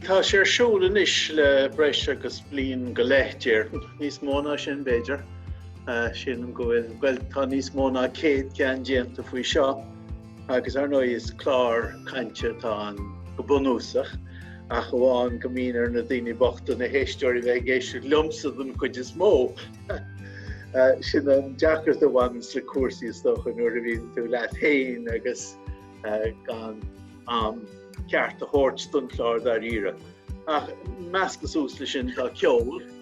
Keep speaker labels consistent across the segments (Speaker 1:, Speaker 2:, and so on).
Speaker 1: Tá sé ar siúl anois le breis agus bliain go leith, déarfainn. Níos mó ná sin, b'fhéidir. Sílim go bhfuil, bhuel, tá níos mó ná 100 ceann déanta faoi seo. agus ar ndóigh is clár cainte atá ann go bunúsach ach amháin go mbíonn ar na daoine bochta na héisteoirí bheith ag éisteacht liomsa don chuid is mó. Sin an deacracht a bhaineann le cúrsaí is dócha nuair a bhíonn tú leat féin agus gan am ceart a thabhairt don chlár dáiríre. Ach measctha suas leis sin tá ceol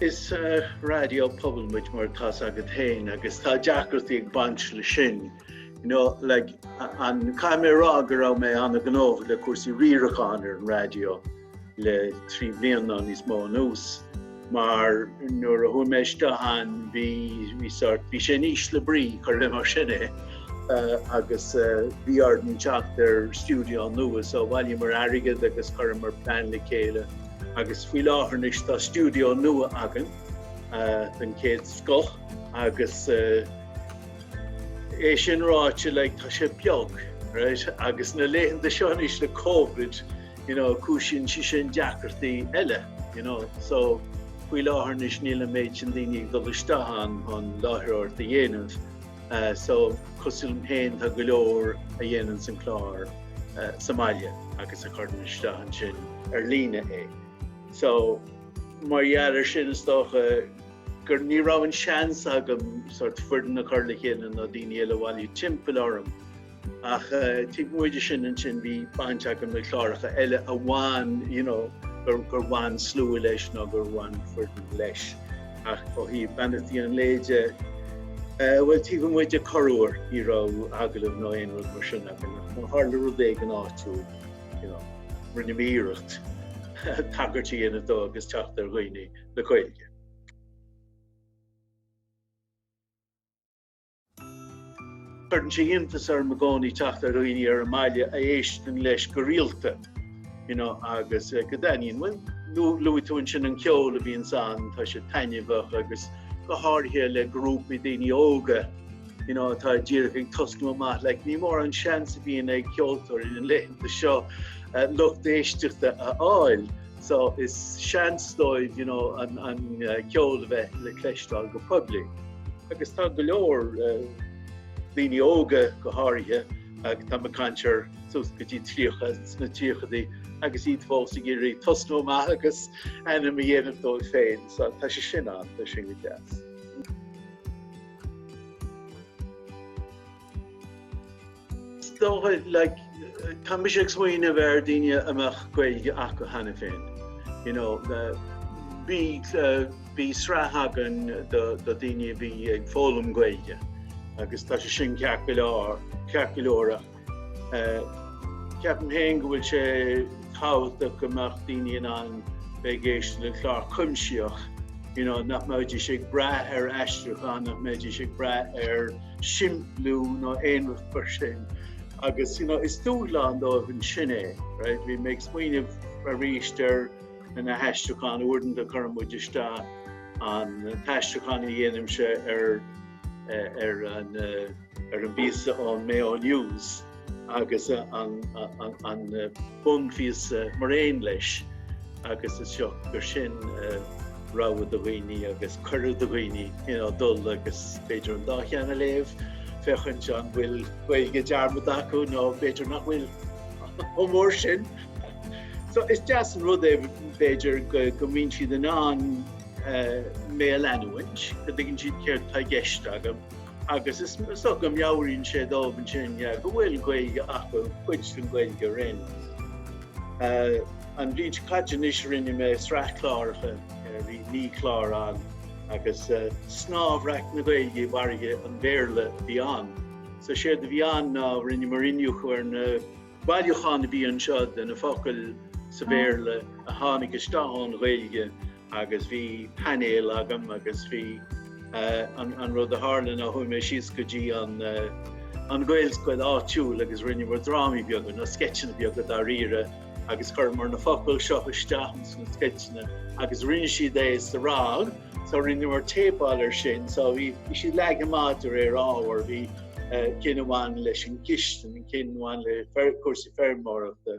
Speaker 1: Is Raidió Pobail muid, mar atá 's agat féin, agus tá deacrachtaí ag baint leis sin. You know, like, an, caithfidh mé a rá go raibh mé an-ghnótha le cúrsaí riaracháin ar an raidió le trí bliana nó níos mó anuas. Mar nuair a chuaigh mé isteach ann bhí bhí sort bhí sé in ísle brí cuir mar sin é agus bhí orainn teacht ar stiúideo nua so bhailíomar airgead agus chuireamar plean le chéile agus faoi láthair anois tá stiúideo nua againn den chéad scoth agus é sin ráite like tá sé beag agus na laethanta seo anois le Covid you know, cúisíonn sé sin deacrachtaí eile, you know. So faoi láthair anois níl an méid sin daoine ag dul isteach ann chun láithreoireacht a dhéanamh, so cosúil liom féin tá go leor a dhéanann an clár sa mbaile agus a chuireann isteach ansin ar líne é. So mar gheall ar sin is dócha gur ní raibh an seans agam sort foireann a chur le chéile nó daoine eile a bhailiú timpeall orm Ach taobh amuigh de sin ansin bhí baint agam le cláracha eile a bhain you know, gur gur bhain slua leis nó gur bhain foireann leis. Ach ó thaobh Beannachtaí an Lae de eh, bhuel taobh amuigh de corruair ní raibh agallamh nó aon rud mar sin agam ach má tharla rud éigin áitiúil you know, rinne mé iarracht tagairt a dhéanamh dó agus teacht ar dhaoine le Gaeilge. Cuireann sé iontas orm i gcónaí teacht ar dhaoine ar an mbaile a éisteann leis go rialta you know agus go dtaitníonn bhuel luaigh tú ansin an ceol a bhíonn ann tá sé taitneamhach agus go háirithe le grúpaí daoine óga you know atá díreach ag tosnú amach like, ní mór an seans a bhíonn ag ceoltóirí na laethanta seo uh, lucht éisteachta a fháil. so is seans dóibh you know an ceol a bheith le cloisteáil go poiblí. Agus tá go leor daoine óga go háirithe ag tá mé ag caint ar suas go dtí 30 sna tríochaidí agus iad fós ag iarraidh tosnú amach agus ainm a dhéanamh dóibh féin so tá sé sin ann tá sin go deas. Is dóigh, like, tá mise ag smaoineamh ar dhaoine a mbeadh Gaeilge acu cheana féin. You know, bhí, bhí sraith againn do, do dhaoine a bhí ag foghlaim Gaeilge agus tá sé sin ceart go leor, ceart go leor ach, ceapaim féin go bhfuil sé tábhachtach go mbeadh daoine in ann bheith ag éisteacht le clár cuimsitheach, you know, nach mbeidís ag brath ar aistriúchán, nach mbeidís ag brath ar, simpliú nó aon rud mar sin. Agus you know, is dúshlán dóibh ansin é, right? Bhí mé ag smaoineamh aríst ar na haistriúcháin uaireanta cuireann muid isteach an t-aistriúchán a dhéanaimse ar ar an ar an bpíosa ón Mayo News. agus an bunphíosa mar aon leis agus is dóigh gur sin rogha do dhaoine agus cuireadh do dhaoine you know dul agus b'fhéidir an dá cheann a léamh féachaint an bhfuil Gaeilge dearmadta acu nó b'fhéidir nach bhfuil chomh mór sin. So is deas an rud é b'fhéidir go mbíonn siad in ann mé a leanúint go dtuigeann siad céard atá i gceist agam. agus is dócha go meabhraíonn sé dóibh ansin go bhfuil Gaeilge acu, cuid den Ghaeilge araon. An bhliain seo caite anois rinne mé sraith cláracha, bhí naoi chlár ann, agus snámhbhreac na Gaeilge i bhfarraige an Bhéarla a bhí ann. So séard a bhí ann ná rinneamar iniúchadh ar na bailiúcháin a bhí anseo de na focail sa Bhéarla a tháinig isteach ón Ghaeilge, agus bhí painéal agam agus bhí an rud a tharla ná chuaigh mé síos go dtí an Ghaelscoil áitiúil agus rinneamar drámaí beaga nó sceitseanna beaga dáiríre agus chuireamar na focail seo isteach ins na sceitseanna agus rinne siad é sa rang so rinneamar téipáil ar sin so bhí siad leagtha amach de réir ábhar bhí ceann amháin leis an gcistin, ceann amháin le cúrsaí feirmeoireachta,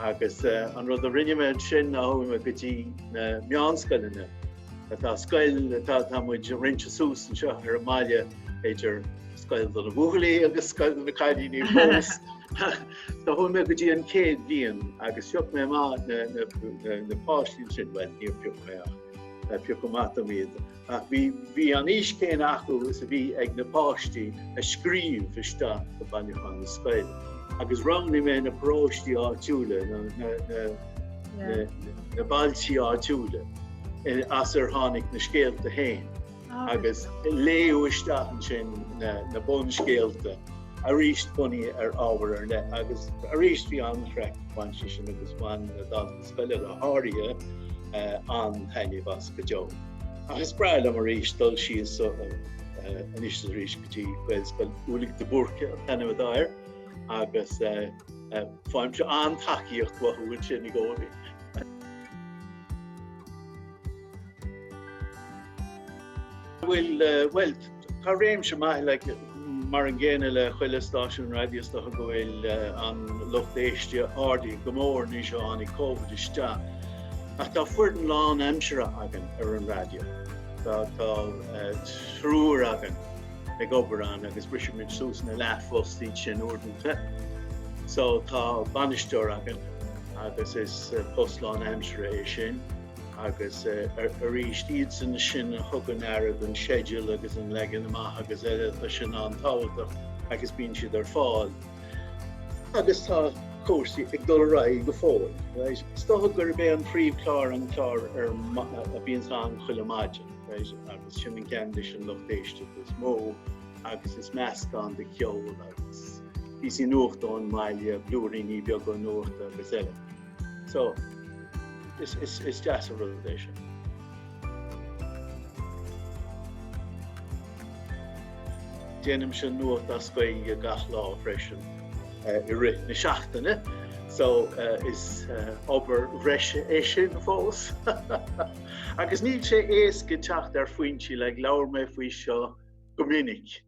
Speaker 1: Agus an rud a rinne mé ansin ná chuaigh mé go dtí na meánscoileanna. Tá scoil atá tá muid roinnte suas anseo ar an mbaile idir scoil do na buachaillí agus scoil do na cailíní fós. So chuaigh mé go dtí an chéad bhliain agus phioc mé amach na na na na páistí ansin, bhuel níor phioc mé ach piocadh amach dom iad. Ach bhí an aois chéanna acu is a bhí ag na páistí a scríobh isteach go bailiúchán na scoile. Agus roghnaigh mé na paróistí áitiúla, na bailtí áitiúla as ar tháinig na scéalta féin agus léadh isteach ansin na bunscéalta arís bunaithe ar ábhar ar leith. Agus arís bhí an-chraic, bhain siad sin agus bhain na daltaí scoile go háirithe an-taitneamh as go deo. Ach is breá liom arís dul síos so anois is arís go dtí Gaelscoil Ulick de Búrca an t-ainm atá air agus faighimse an-tacaíocht uathu ansin i gcónaí. Bhuel, Tá réimse maith le mar an gcéanna le chuile stáisiún raidió is dócha go bhfuil an lucht éiste ardaithe go mór anois ó tháinig Covid isteach. Ach tá foireann lán aimsire againn ar an raidió. Tá tá triúr againn ag obair ann agus brisimid suas ina leathphoist iad sin uaireanta. So tá bainisteoir againn agus is post lán aimsire é sin. agus arís iadsan sin a thugann aire don sceideal agus an leagan amach agus eile tá sin an-tábhachtach agus bíonn siad ar fáil. Agus tá cúrsaí ag dul ar aghaidh go fóill. Is dócha gurb é an phríomhchlár an clár a bhíonns ann chuile maidin agus sin an ceann leis an lucht éiste is mó agus is meascán de cheol agus píosaí nuachta ón mbaile, blúiríní beaga nuachta agus eile. So, is, is, is deas an rud é sin. Déanaimse nuacht as Gaeilge gach lá freisin i rith na seachtaine, so is obair bhreise é sin fós. Agus níl sé éasca teacht ar foinsí, like labhair mé faoi seo go minic.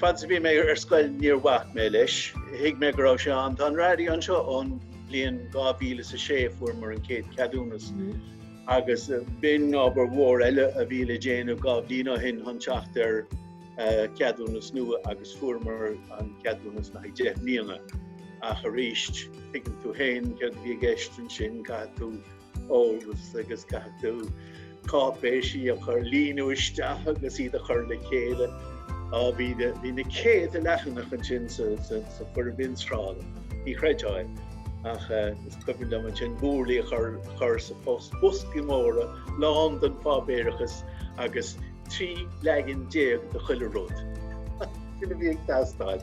Speaker 1: Fad is a bhí mé ar scoil níor bhac mé leis. Thuig mé go raibh sé ann. Tá an raidió anseo ón bhliain 2006 a fuaireamar an chéad ceadúnas agus b'in obair mhór eile a bhí le déanamh dhá bhliain ó shin chun teacht ar ceadúnas nua agus fuaireamar an ceadúnas le haghaidh deich mbliana. Ach arís, tuigeann tú féin céard a bhí i gceist ansin, caithfidh tú eolas agus caithfidh tú cáipéisí a chur, líonadh isteach agus iad a chur le chéile. Bhí na céadta leathanach ansin sa foirm mionsonraithe, ní chreidfeá, ach is cuimhin liom ansin burlaí a chur sa phost, boscaí móra lán den pháipéarachas agus trí leagan déag de chuile rud a bhí ag teastáil.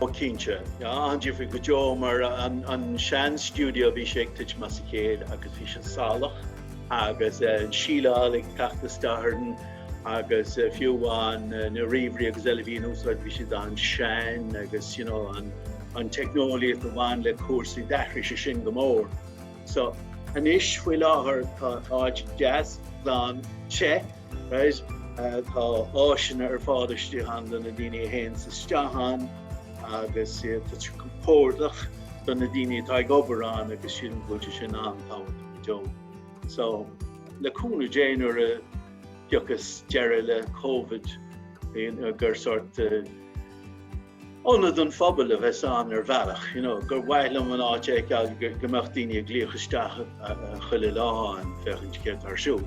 Speaker 1: Ó cinnte. An difear go deo mar an sean stiúideo a bhí sé ag tuitim as a chéile agus bhí sé salach agus an síleáil ag teacht isteach orainn agus fiú amháin na ríomhairí agus eile a bhí in úsáid bhí siad an-sean agus you know an an teicneolaíocht a bhain le cúrsaí d'athraigh sé sin go mór. So anois faoi láthair tá áit deas, glan, te, Right, tá áiseanna ar fad istigh ann do na daoine a théann isteach ann agus tá sé compordach do na daoine atá ag obair ann agus sin, tá sé sin an-tábhachtach go deo. So le cúnamh Dé nuair a thiocfas deireadh le Covid, gur sort ionad don phobal a bheas ann ar bhealach, you know, gur mhaith liom an áit a fheiceáil go mbeadh daoine ag glaoch isteach chuile lá ann féachaint céard atá ar siúl.